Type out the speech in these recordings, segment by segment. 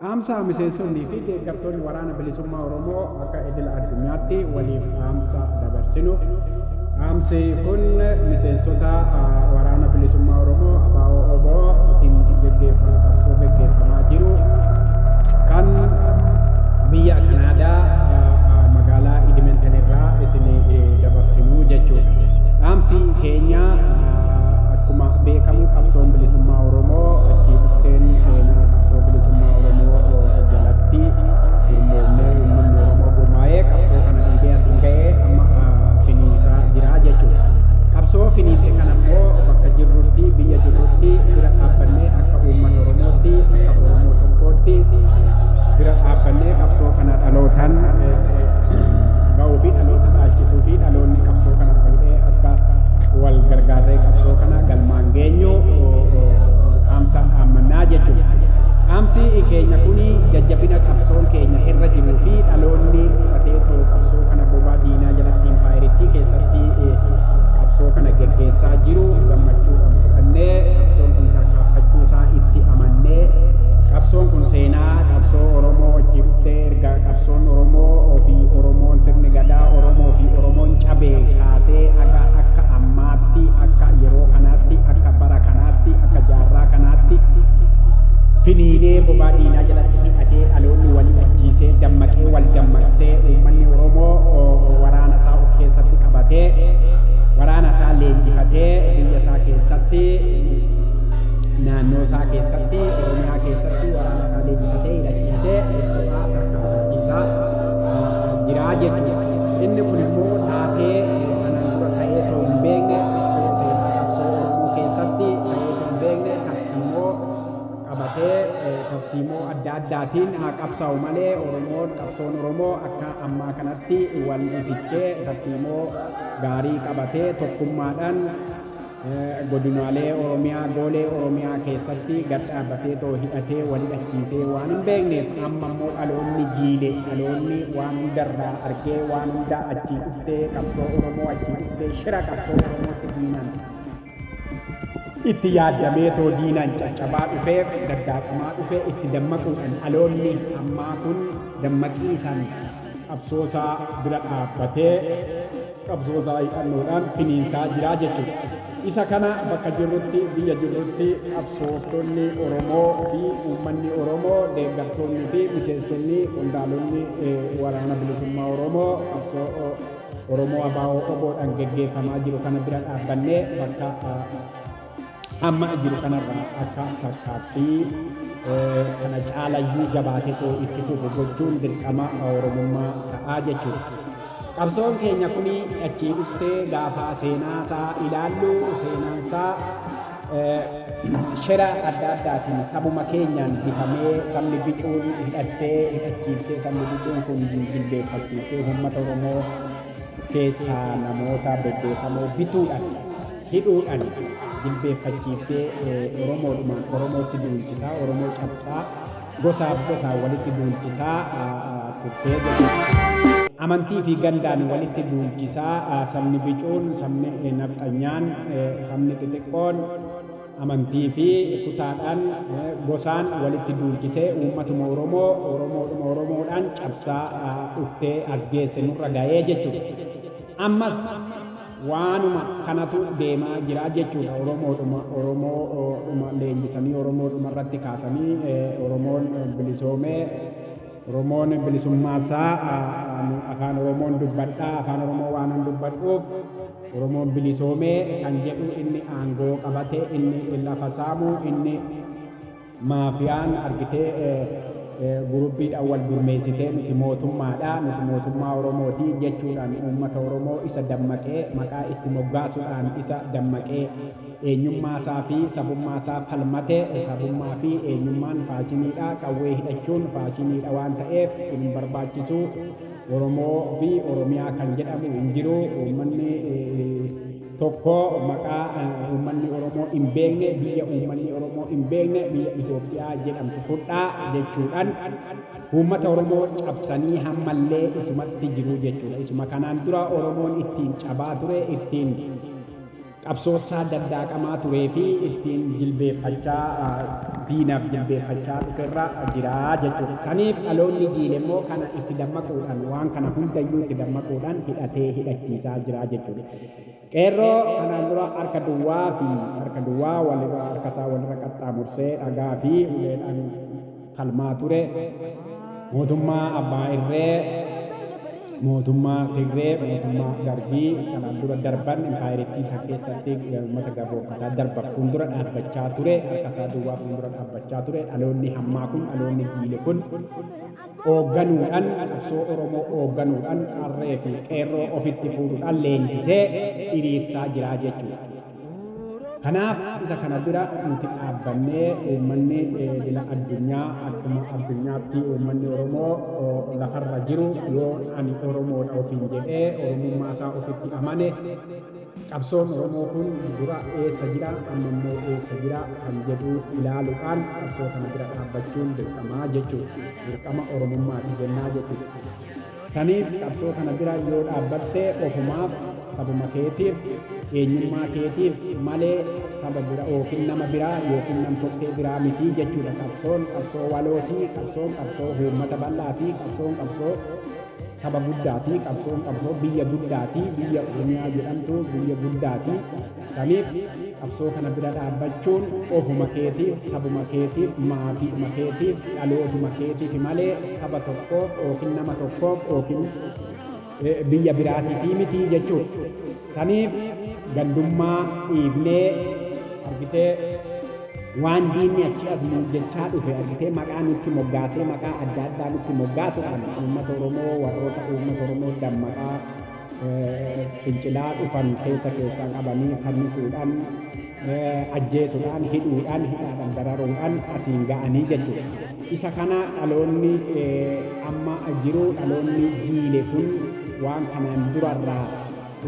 Dhaamsa miseensonnii fi deeggartoonni Waraana Bilisummaa Oromoo akka idila addunyaatti waliif dhaamsa dabarsinu. Dhaamsi kun miseensota Waraana Bilisummaa Oromoo ABO OBO tiin geggeeffamaa qabsoo geggeeffamaa jiru kan biyya Kanaadaa magaalaa Edmonton irraa isin dabarsinu jechuudha. Dhaamsi keenya Akkuma beekamu qabsoon bilisummaa Oromoo itti dhufteen seenaa qabsoo bilisummaa Oromoo jalatti gurmoomnee uummanni Oromoo gurmaa'ee qabsoo kana dhiibee asiin ga'ee amma finiinsaa jira jechuudha. Qabsoo finiinse kana immoo bakka jirrutti biyya jirrutti bira dhaabbannee akka uummata Oromootti akka Oromoo tokkootti bira dhaabbannee qabsoo kana dhalootaan ga'uu fi dhaloota dhaalchisuu fi dhaloonni qabsoo kana fuudhee akka wal gargaarree qabsoo kana galmaan geenyu dhaamsa dhaammannaa jechuudha. Dhaamsi keenya kun jajjabina qabsoon keenya irra jiruu fi dhaloonni fudhatee too qabsoo kana bobaa diinaa jalatti impaayerittii keessatti qabsoo kana geggeessaa jiru gammachuudhaan fudhannee qabsoon kun tarkaanfachuu isaa itti amannee qabsoon kun seenaa qabsoo Oromoo wajjin dhuftee erga Qabsoon Oromoo fi Oromoon sirni gadaa Oromoo fi Oromoon cabee kaasee haga akka ammaatti akka yeroo kanaatti akka bara kanaatti akka jaarraa kanaatti finiinee bobaa diinaa jalatti hidhatee dhaloonni wal ajjiisee dammaqee wal dammaqsee uummanni Oromoo waraana isaa of keessatti qabatee waraana isaa leenjifatee biyya isaa keessatti naannoo isaa keessatti Oromiyaa keessatti waraana isaa leenjifatee hidhachiisee sobaa bakka amansiisaa jira jechuudha. Inni kun immoo taatee kanaan dura ta'ee ta'uu hin beekne seenaa qabsoo Oromoo keessatti ta'ee ta'uu hin beekne tarsiimoo qabatee tarsiimoo adda addaatiin haa qabsaa'u malee Oromoon qabsoon Oromoo akka ammaa kanatti wal fichee tarsiimoo gaarii qabatee tokkummaadhaan Godinaalee Oromiyaa, Goolee Oromiyaa keessatti gad dhaabbatee too hidhatee wal hidhachiisee waan hin beekneef amma immoo dhaloonni jiile dhaloonni waan hundarraa argee waan hundaa achii dhuftee qabsoo Oromoo achii dhuftee shira qabsoo Oromootti diinaan itti yaaddamee too diinaan caccabaa dhufee daddaaqamaa dhufee itti dammaquudhaan dhaloonni ammaa kun dammaqii isaan qabsoosaa bira dhaabbatee qabsoosaa hidhannoodhaan finiinsaa jiraa jechuudha. Isa kana bakka jirrutti biyya jirrutti qabsooftonni Oromoo fi uummanni Oromoo deeggartoonni fi miseensonni qondaalonni waraana bilisummaa Oromoo qabsoo Oromoo abaa'oo oboodhaan geggeeffamaa jiru kana bira dhaabbannee bakka amma jiru kanarraa akka fakkaatti kana caalayyuu jabaatetu itti fufu gochuun dirqama Oromummaa ta'aa jechuudha. Qabsoon keenya kun achii dhuftee gaafa seenaasaa ilaallu seenaansaa shira adda addaatiin sabuma keenyaan bitamee sabni bicuun hidhattee hidhachiiftee sabni bicuun kun jilbeeffachiiftee uummata Oromoo keessaa namoota bebbeekamoo bituudhaan hidhuudhan jilbeeffachiiftee Oromoodhumaan Oromootti duulchisaa, Oromoo cabsaa, gosaaf gosaan walitti duulchisaa turtee jedhu. Amantii fi gandaan walitti duulchisaa sabni bicuun, sabni nafxanyaan, sabni xixiqqoon amantii fi kutaadhaan, gosaan walitti duulchisee uummatuma Oromoo Oromoodhuma Oromoodhaan cabsaa dhuftee as geesse nurra ga'ee jechuudha. Ammas Waanuma kanatu deemaa jira jechuudha Oromoodhuma Oromoodhuma leenjisanii Oromoodhuma irratti kaasanii Oromoon bilisoomee Oromoon bilisummaa isaa ani afaan Oromoon dubbadha afaan Oromoo waanan dubbadhuuf Oromoon bilisoomee kan jedhu inni aangoo qabate inni lafa saamu inni Maafiyaan argitee guruppiidhaan wal gurmeessitee nuti mootummaadha, nuti mootummaa Oromooti jechuudhaan uummata Oromoo isa dammaqee maqaa itti moggaasuudhaan isa dammaqee eenyummaasaa fi sabummaasaa falmate sabummaa fi eenyummaan faashiniidha qawwee hidhachuun faashiniidha waan ta'eef isin hin barbaachisu Oromoo fi Oromiyaa kan jedhamu hin jiru uummanni tokko maqaa uummanni Oromoo hin beekne biyya uummanni Oromoo hin beekne biyya Itoophiyaa jedhamtu fudhaa jechuudhaan uummata Oromoo cabsanii hammallee isumatti jiru jechuudha. Isuma kanaan dura Oromoon ittiin cabaa ture ittiin qabsoosaa daddaaqamaa turee fi ittiin jilbeeffachaa diinaaf jilbeeffachaa dhuferra jira jechuudha. Saniif dhaloonni jiile immoo kana itti dammaquudhaan waan kana hundayyuu itti dammaquudhaan hidhatee hidhachiisaa jira jechuudha. Qeerroo kanaan dura harka duwwaa fi harka duwwaa walirra harkasaa walirra qaxxaamursee dhagaa fi uleedhaan falmaa ture, mootummaa abbaa irree, mootummaa Tigree, mootummaa Dargii kanaan dura darban impaayerittii san keessatti uummata gabroomfataa darban fuuldura dhaabbachaa ture, harkasaa duwwaa fuuldura dhaabbachaa ture, dhaloonni hammaa kun, dhaloonni jiili kun oogganuudhan qabsoo Oromoo oogganuudhan qarree fi qeerroo ofitti fuudhudhan leenjisee iriirsaa jiraa jechuudha. Kanaaf isa kana bira nuti dhaabbannee uummanni idila addunyaa akkuma addunyaatti uummanni Oromoo lafarra jiru yoo ani Oromoodha ofiin jedhee Oromummaa isaa ofitti amane Qabsoon Oromoo kun dura eessa jira, amma immoo eessa jira kan jedhu ilaaluudhaan qabsoo kana bira dhaabbachuun dirqama jechuudha. Dirqama Oromummaati jennaa jechuudha. Saniif qabsoo kana bira yoo dhaabbatte ofumaaf, sabuma keetiif, eenyummaa keetiif malee saba bira yookiin nama biraa yookiin nam-tokkee biraa miti jechuudha. Qabsoon qabsoo walooti, qabsoon qabsoo uummata bal'aati, qabsoon qabsoo saba guddaati qabsoon qabsoo biyya guddaati biyya oromiyaa jedhamtu biyya guddaati saniif qabsoo kana bira dhaabbachuun ofuma keetiif sabuma keetiif maatiidhuma keetiif dhalootuma keetiif malee saba tokkoof yookiin nama tokkoof yookiin biyya biraatiif mitii jechuudha. Saniif gandummaa dhiifnee argitee waan diinni achi as nuun jechaa dhufe argitee maqaa nutti moggaasee maqaa adda addaa nutti moggaasuudhaan uummata Oromoo warroota uummata Oromoo dammaqaa fincilaa dhufan keessa keessaa qabanii fannisuudhaan ajjeesuudhaan hidhuudhaan hidhaadhaan dararuudhaan asiin ga'anii jechuudha. Isa kana dhaloonni amma jiru dhaloonni jiile kun waan kanaan durarraa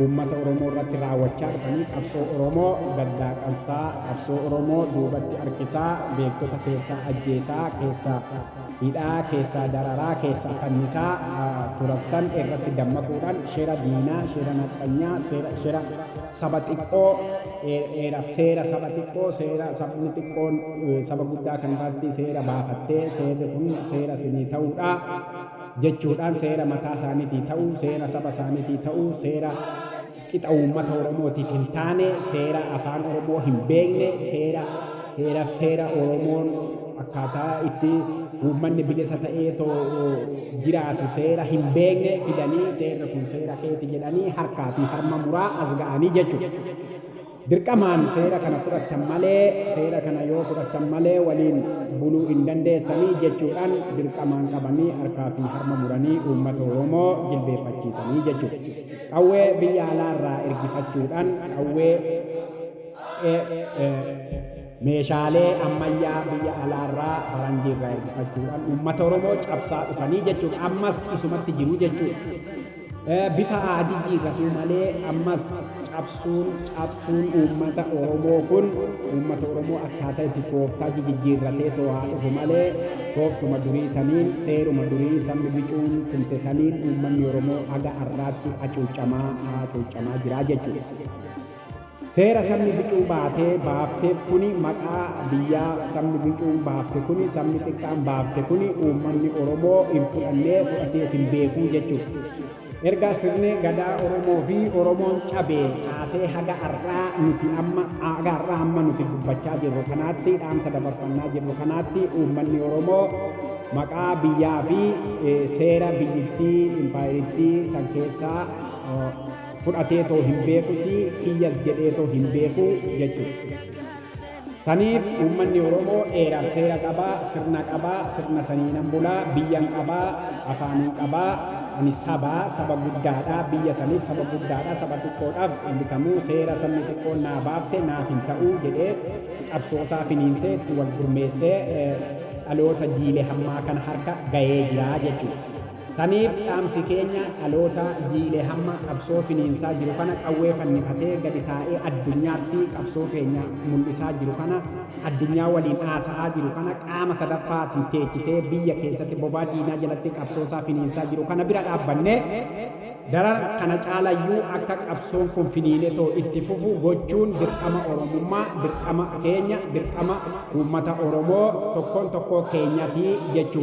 uummata Oromoo irratti raawwachaa dhufanii qabsoo Oromoo daddaaqansaa, qabsoo Oromoo duubatti harkisaa, beektota keessaa ajjeesaa, keessaa hidhaa, keessaa dararaa, keessaa fannisaa turansan irratti dammaquudhaan shira diinaa, shira nafxanyaa, shira saba xiqqoo, seera saba xiqqoo, seera sabni xiqqoon saba guddaa kan irratti seera baafattee seerri kun seera isinii ta'uudha. jechuudhaan seera mataa isaaniitii ta'uu, seera saba isaaniitii ta'uu, seera qixa uummata Oromootiif hin taane, seera afaan Oromoo hin beekne, seera heeraf seera Oromoon akkaataa itti uummanni bilisa ta'ee too jiraatu seera hin beekne fidanii seerri kun seera keeti jedhanii harkaa fi harma muraa as ga'anii jechuudha. Dirqamaan seera kana fudhattan malee, seera kana yoo fudhattan malee waliin buluu hin dandeessanii jechuudhaan dirqamaan qabanii harkaa fi harma muranii uummata Oromoo jilbeeffachiisanii jechuudha. Qawwee biyya alaa irraa ergifachuudhaan qawwee meeshaalee ammayyaa biyya alaa irraa faranjii irraa ergifachuudhaan uummata Oromoo cabsaa dhufanii jechuudha. Ammas isumatti jiru jechuudha. Bifa haa jijjiirratuu malee ammas cabsuun cabsuun uummata Oromoo kun uummata Oromoo akkaataa itti tooftaa jijijjiirratee too haa dhufu malee tooftuma durii saniin seeruma durii sabni bicuun tumte saniin uummanni Oromoo haga har'aatti hacuucamaa hacuucamaa jiraa jechuudha. Seera sabni bicuu baatee, baafteef kuni maqaa biyyaa sabni bicuun baafte kuni sabni xiqqaan baafte kuni uummanni Oromoo hin fudhannee fudhatees hin beekuu jechuudha. Erga sirni gadaa Oromoo fi Oromoon cabee kaasee haga har'aa nuti amma haga har'aa amma nuti dubbachaa jirru kanaatti dhaamsa dabarfannaa jirru kanaatti uummanni Oromoo maqaa biyyaa fi seera biyyittii impaayerittii san keessaa fudhateetoo hin beekusii kiyyas jedheetoo hin beeku jechuudha. Saniif uummanni Oromoo eeraaf seera qabaa, sirna qabaa, sirna saniinan bulaa, biyyan qabaa, afaanin qabaa, ani sabaa, saba guddaadha, biyya saniif saba guddaadha, saba xiqqoodhaaf hin bitamu, seera sabni xiqqoon naa baafte naaf hin ta'u jedhee qabsoosaa finiinsee itti wal gurmeessee dhaloota jiile hammaa kana harka gayee jira jechuudha. Saniif dhaamsi keenya dhalootaa jiilee hamma qabsoo finiinsaa jiru kana qawwee fannifatee gadi taa'ee addunyaatti qabsoo keenya mul'isaa jiru kana addunyaa waliin haasa'aa jiru kana qaama sadaffaatiin teechisee biyya keessatti bobaa diinaa jalatti qabsoosaa finiinsaa jiru kana bira dhaabbannee daran kana caalayyuu akka qabsoon kun finiinetoo itti fufu gochuun dirqama Oromummaa dirqama keenya dirqama uummata Oromoo tokkoon tokkoo keenyatii jechuu